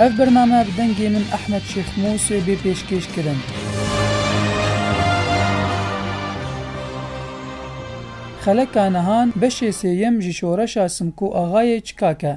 Ev bername bi dengê min Ehmed Şêx Mûsê bê pêşkêş kirin. Xeleka Nihan beşê sêyem ji şoreşa Simko Axayê çikak e.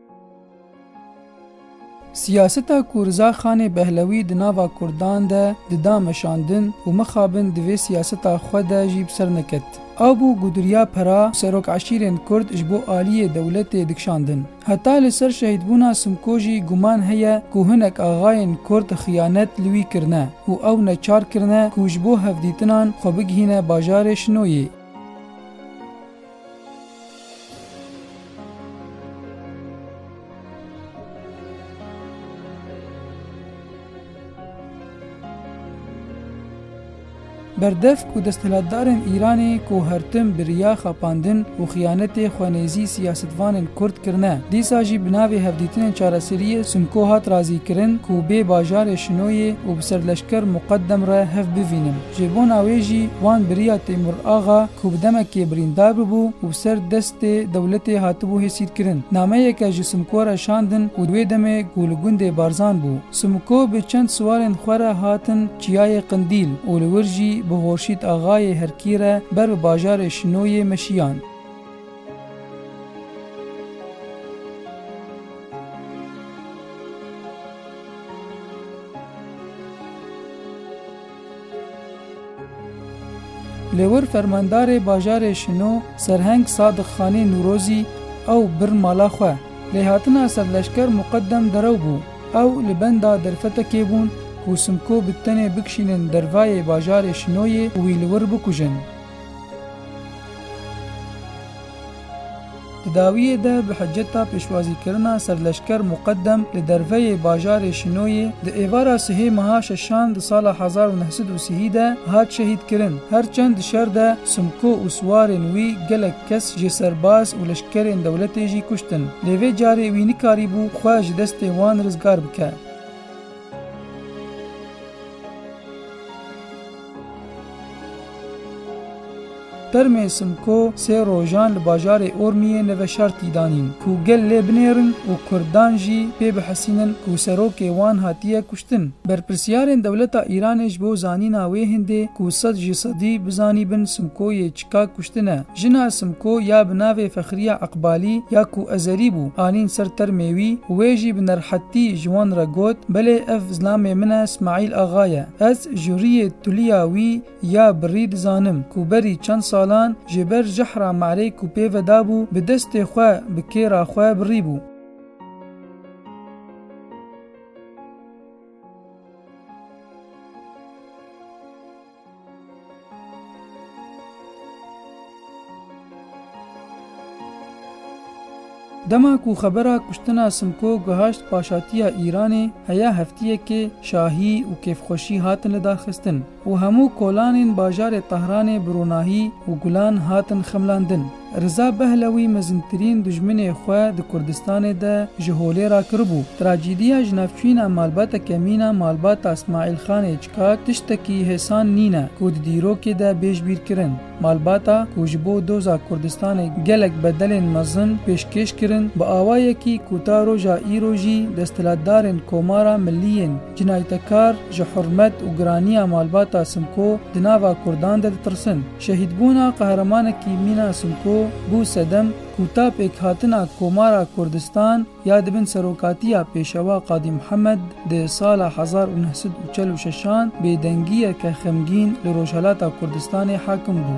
Siyaseta ku Riza Xanê Behlewî di nava Kurdan de dida meşandin û mixabin di vê siyaseta xwe de jî bi ser neket. Ew bû ku duriya pera û serokeşîrên Kurd ji bo aliyê dewletê dikşandin. Heta li ser şehîdbûna Simko jî guman heye ku hinek axayên Kurd xiyanet li wî kirine û ew neçar kirine ku ji bo hevdîtinan xwe bigihîne bajarê Şinoyê. Berdevk û desthilatdarên Îranê ku her tim bi riya xapandin û xiyanetê xwenêzî siyasetvanên Kurd kirine, dîsa jî bi navê hevdîtinên çareseriyê Simko hat razîkirin ku bê bajarê Şinoyê û bi ser leşker Muqedem re hev bivînin. Ji bona wê jî wan biriya Têmur Axa ku bi demekê birîndar bûbû û bi ser destê dewletê hatibû hêsîrkirin, nameyeke ji Simko re şandin û di wê demê ku li gundê Barzan bû, Simko bi çend siwarên xwe re hatin Çiyayê Qindîl û li wir jî bi Horşîd Axayê Herkî re ber bi bajarê Şinoyê meşiyan. Li wir fermandarê bajarê Şino Serheng Sadiq Xanê Nûrozî ew bir mala xwe. Lê hatina serleşker muqedem derew bû. Ew li benda derfetekê bûn ku Simko bi tenê bikişînin dervayê bajarê Şinoyê û wî li wir bikujin. Di dawiyê de bi hiceta pêşwazîkirina serleşker Muqedem li derveyê bajarê Şinoyê di êvara sihê meha şeşan di sala hezar û neh sed û sihî de hat şehîdkirin. Her çend di şer de Simko û siwarên wî gelek kes jê serbaz û leşkerên dewletê jî kuştin, lê vê carê wî nikarîbû xwe ji destê wan rizgar bike. Termên Simko sê rojan li bajarê Ormiyê li veşartî danîn ku gel lê binêrin û Kurdan jî pê bihesînin ku serokê wan hatiye kuştin. Berpirsyarên dewleta Îranê ji bo zanîna wê hindê ku sed ji sedî bizanîbin Simkoyê Ka kuştine. Jina Simko ya bi navê Fexriye Eqbalî ya ku Ezerî bû, anîn ser termê wî û wê jî bi nerhetî ji wan re got, Belê ev zilamê min e Smaîl Axa ye. Ez ji rûyê tuliya wî ya birî dizanim ku berî çend salan ji ber jehra merê ku pê ve dabû bi destê xwe bi kêra xwe birî bû. Dema ku xebera kuştina Simko gihaşt paşatiya Îranê heya heftiyekê şahî û kêfxweşî hatine daxistin û hemû kolanên bajarê Tehranê bi ronahî û gulan hatin xemlandin. Riza Behlewî mezintirîn dijminê xwe di Kurdistanê de ji holê rakiribû. Trajîdiya ji navçîna malbata kemîna malbata Smaîl Xanê Çikak tiştekî hêsan nîne ku di dîrokê de bêj bîr kirin. Malbata ku ji bo doza Kurdistanê gelek bedelên mezin pêşkêş kirin, bi awayekî ku ta roja îro jî desthilatdarên Komara Millî yên, Cinaytekar ji hurmet û giraniya malbata Simko di nava Kurdan de ditirsin. Şehîdbûna qehremanekî mîna Simko bû sedem ku ta pêkhatina Komara Kurdistan ya di bin serokatiya Pêşewa Qadî Mihemed di sala hezar û neh sed û çel û şeş an bêdengiyeke xemgîn li Rojhilata Kurdistanê hakim bû.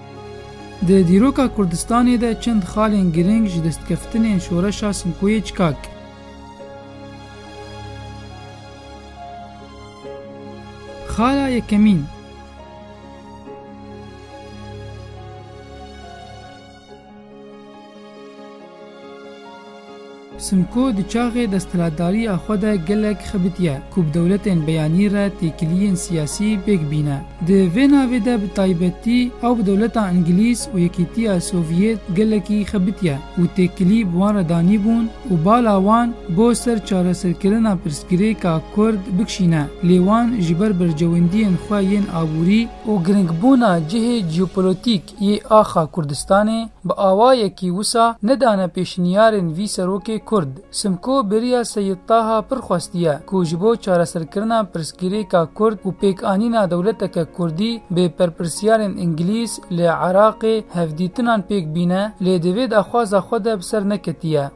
Di dîroka Kurdistanê de çend xalên girîng ji destkeftinên şoreşa Simkoyê çikak. Xala yekemîn. Simko di çaxê desthilatdariya xwe de gelek xebitiye ku bi dewletên beyanî re têkiliyên siyasî pêk bîne. Di vê navê de bi taybetî ew bi dewleta Îngilîz û Yekîtiya Sovyêt gelekî xebitiye û têkilî bi wan re danîbûn û bala wan bo ser çareserkirina pirsgirêka Kurd bikşîne lê wan ji ber berjewendiyên xwe yên abûrî û giringbûna cihê jeopolotîk yê axa Kurdistanê bi awayekî wisa nedane pêşniyarên vî serokê Kurd. Simko bêriya Seyîd Taha pir xwestiye ku ji bo çareserkirina pirsgirêka Kurd û pêkanîna dewleteke Kurdî bê berpirsyarên Îngilîz li Iraqê hevdîtinan pêk bîne lê di vê daxwaza xwe de bi ser neketiye.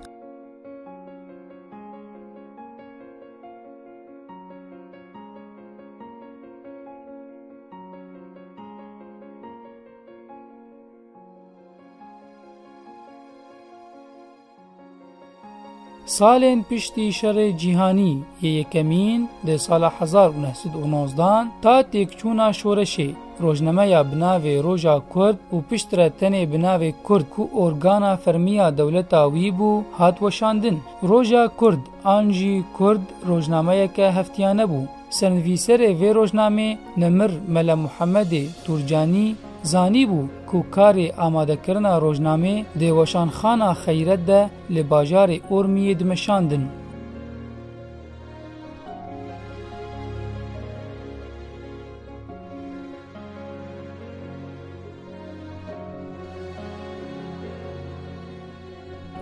Salên piştî şerê cîhanî yê yekemîn di sala hezar û neh sed û nozdan ta têkçûna şoreşê, rojnameya bi navê Roja Kurd û piştre tenê bi navê Kurd ku organa fermî ya dewleta wî bû, hat weşandin. Roja Kurd An jî Kurd rojnameyeke heftiyane bû. Sernivîserê vê rojnamê Nemir Mele Muhemedê Turcanî zanîbû ku karê amadekirina rojnamê dê weşanxana Xeyret de li bajarê Urmiyê dimeşandin.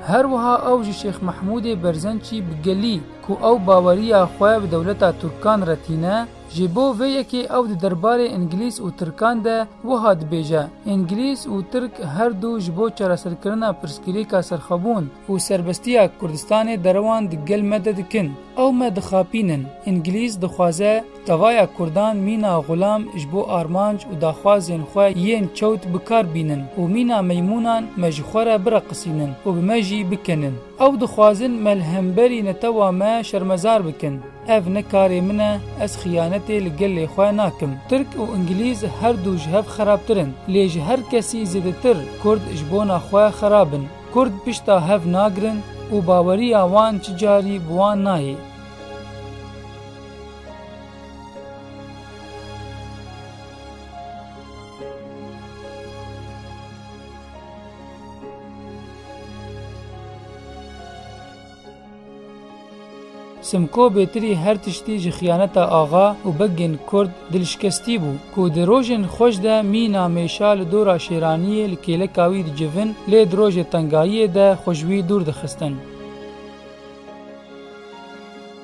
Her wiha ew ji Şêx Mehmûdê Berzençî bi gelî ku ew baweriya xwe bi dewleta Tirkan re tîne, ji bo vê yekê ew di derbarê Îngilîz û Tirkan de wiha dibêje, Îngilîz û Tirk her du ji bo çareserkirina pirsgirêka serxwebûn û serbestiya Kurdistanê derewan di gel me de dikin. Ew me dixapînin. Îngilîz dixwaze. Davaya Kurdan mîna xulam ji bo armanc û daxwazên xwe yên çewt bi kar bînin û mîna meymûnan me ji xwe re bireqisînin û bi me jî bikenin. Ew dixwazin me li hemberî netewa me şermezar bikin. Ev ne karê min e, ez xiyanetê li gelê xwe nakim. Tirk û Ingilîz her du ji hev xerabtir in. Lê ji her kesî zêdetir Kurd ji bona xwe xerab in. Kurd pişta hev nagirin û baweriya wan çi carî bi wan nayê. Simko bêtirî her tiştî ji xiyaneta axa û begên kurd dilşikestî bû ku di rojên xweş de mîna mêşa li dora şêraniyê li kêleka wî dicivin lê di rojê tengayiyê de xwe ji wî dûr dixistin.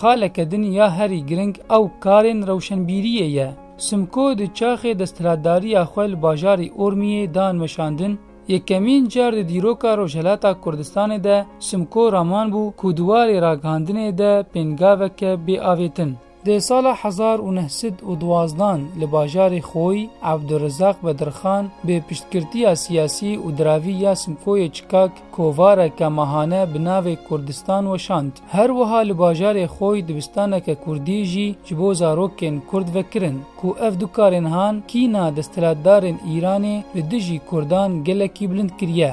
Xaleke din ya herî giring ew karên rewşenbîriyê ye. Simko di çaxê desthilatdariya xwe li bajarî Urmiyê dan weşandin, Yekemîn car di dîroka Rojhilata Kurdistanê de Simko raman bû ku di warê ragihandinê de pêngaveke bêavêtin, Di sala hezar û neh sed û duwazdan li bajarê Xoy, Abdurrizaq Bedirxan bi piştgirtiya siyasî û diravî ya Simkoyê Çikak kovareke mahane bi navê Kurdistan weşand. Her wiha li bajarê Xoy dibistaneke Kurdî jî ji bo zarokên Kurd vekirin ku ev du karên han kîna desthilatdarên Îranê li dijî Kurdan gelekî bilind kiriye.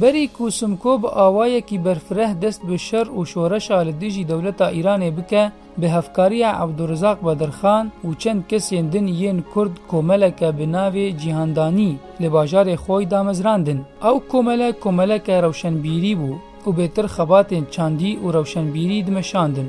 Berî ku Simko bi awayekî berfireh dest bi şer û şoreşa li dijî dewleta Îranê bike, bi hevkariya Ebdûrizaq Bedirxan û çend kesên din yên Kurd komeleke bi navê Cîhandanî li bajarê Xoy damezrandin. Ew komele komeleke rewşenbîrî bû û bêtir xebatên çandî û rewşenbîrî dimeşandin.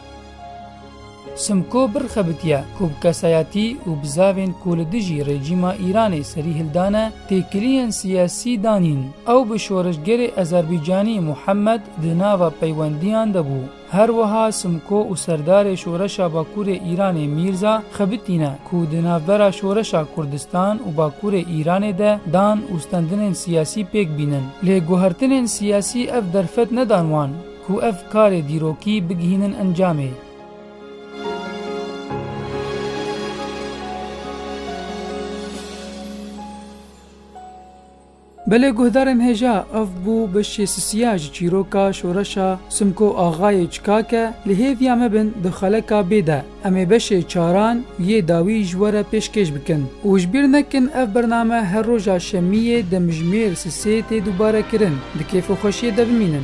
Simko birxebitiye ku bi kesayetî û bi zavên ku li dijî rejîma Îranê serî hildane têkiliyên siyasî danîn. Ew bi şoreşgerê Azerbaycanî Muhammed di nava peywendiyan de bû. Her wiha Simko û serdarê Şoreşa Bakurê Îranê Mîrza xebitîne ku di navbera şoreşa Kurdistan û Bakurê Îranê de dan û stendinên siyasî pêk bînin. Lê guhertinên siyasî ev derfet nedan wan. Ku ev karê dîrokî bigihînin encamê. Belê guhdarên hêja ev bû beşê sisiya ji çîroka şoreşa Simko Axayê Çikake li hêviya me bin di xeleka bê de em ê beşê çaran yê dawî ji we re pêşkêş bikin û ji bîr nekin ev bername her roja şemiyê demjimêr sisê tê dubare kirin di kêfo xweşiyê de bimînin.